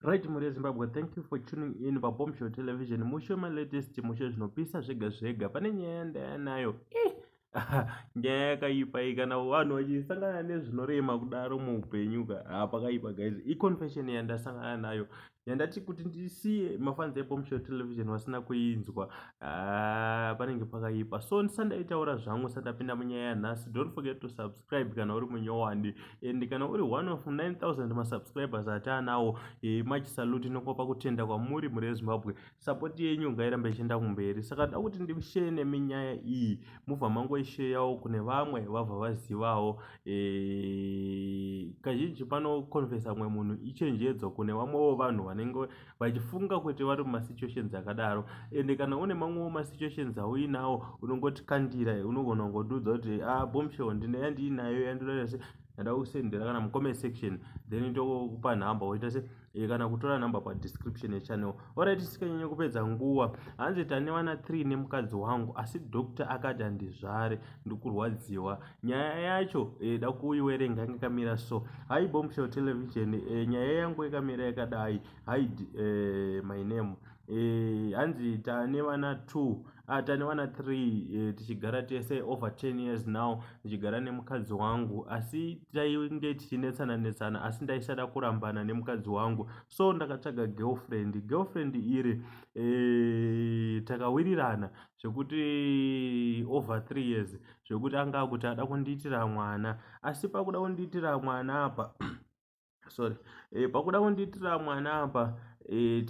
Right mhuri yeZimbabwe, thank you for tuning in paBombshell Television. Mushe my latest mushe zvinopisa zvega zvega. Pane nyaya yandaya nayo. Eh, nyaya yakaipa iyi kana vanhu vachisangana nezvinorema kudaro muupenyu ka ah, pakaipa guys. Iconfession yandasangana nayo yandati kuti ndisiye mafans eBombshell Television vasina kuinzwa. Ah, panenge pakaipa. So ndisandaitaura zvangu sandapinda munyaya nhasi. Don't forget to subscribe. subscribe kana uri munyowani and kana uri one of 9000 masubscribers ataanawo e, much salute inokopa kutenda kwamuri mhuri yezimbabwe support yenyu ngairambe ichienda kumberi saka da kuti ndishere neminyaya iyi mubva mangoisheyawo kune vamwe vabva vazivawo e, kazhinji panokonfesa mumwe munhu ichenjedzo kune vamwewo vanhu vanenge vachifunga kuti vari mumasituations akadaro ende kana une mamwewo masituations auinawo unongoti kandira unogona kungotiudza kuti a ah, bombshell ndine yandiinayo yandinoda se ndada kusendera kana mucomment section then ndokupa nhamba woita se e, kana kutora nhamba padescription yechannel orit sikanyanya kupedza nguva hanzi tane vana three nemukadzi wangu asi doctor akati handizvare ndikurwadziwa nyaya yacho eh, da kuiwerenga yanga ikamira so hai bombshell television eh, nyaya yangu ikamira yakadai hide eh, my name eh, hanzi tane vana two ah, tane vana three eh, tichigara tese over ten years now tichigara nemukadzi wangu asi tainge tichinetsana netsana asi ndaisada kurambana nemukadzi wangu so ndakatsvaga girlfriend girlfriend iri eh, takawirirana zvekuti over three years zvekuti anga akuti ada kundiitira mwana asi pakuda kundiitira mwana apa sorry e, pakuda kundiitira mwana apa e,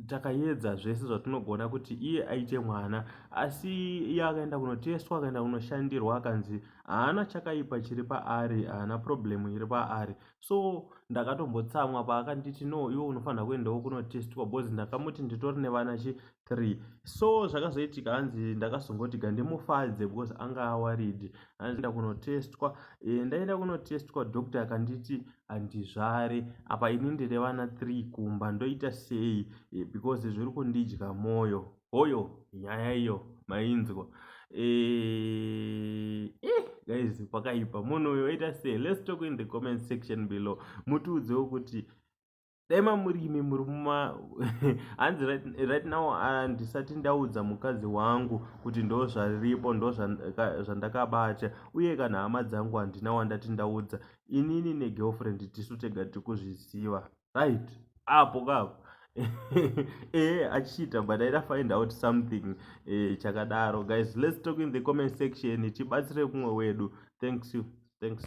takayedza taka zvese zvatinogona kuti iye aite mwana asi iye akaenda kunotestwa akaenda kunoshandirwa akanzi haana chakaipa chiri paari haana problemu iri paari so ndakatombotsamwa paakanditi no iwe unofanira kuendawo kunotestwa bcause ndakamuti nditori nevana chi three so zvakazoitika hanzi ndakazongoti gandimufadze because anga awaridi hanzi ndakunotestwa e, eh, ndaenda kunotestwa doctor akanditi handizvare apa ini ndine vana three kumba ndoita sei e, because zviri kundidya mwoyo hoyo nyaya iyo mainzwa e, eh, guys pakaipa munhu uyo oita sei let's talk in the comment section below mutiudzewo kuti dai mamurimi muri muma hanzi right now handisati ndaudza mukadzi wangu kuti ndo zvaripo ndo zvandakabata uye kana hama dzangu handina wandati ndaudza inini negirlfriend tisu tega tiri kuzviziva right apo kako ehe achiita but aida find out something eh, chakadaro guys let's talk in the comment section tibatsire kumwe wedu thanks you thanks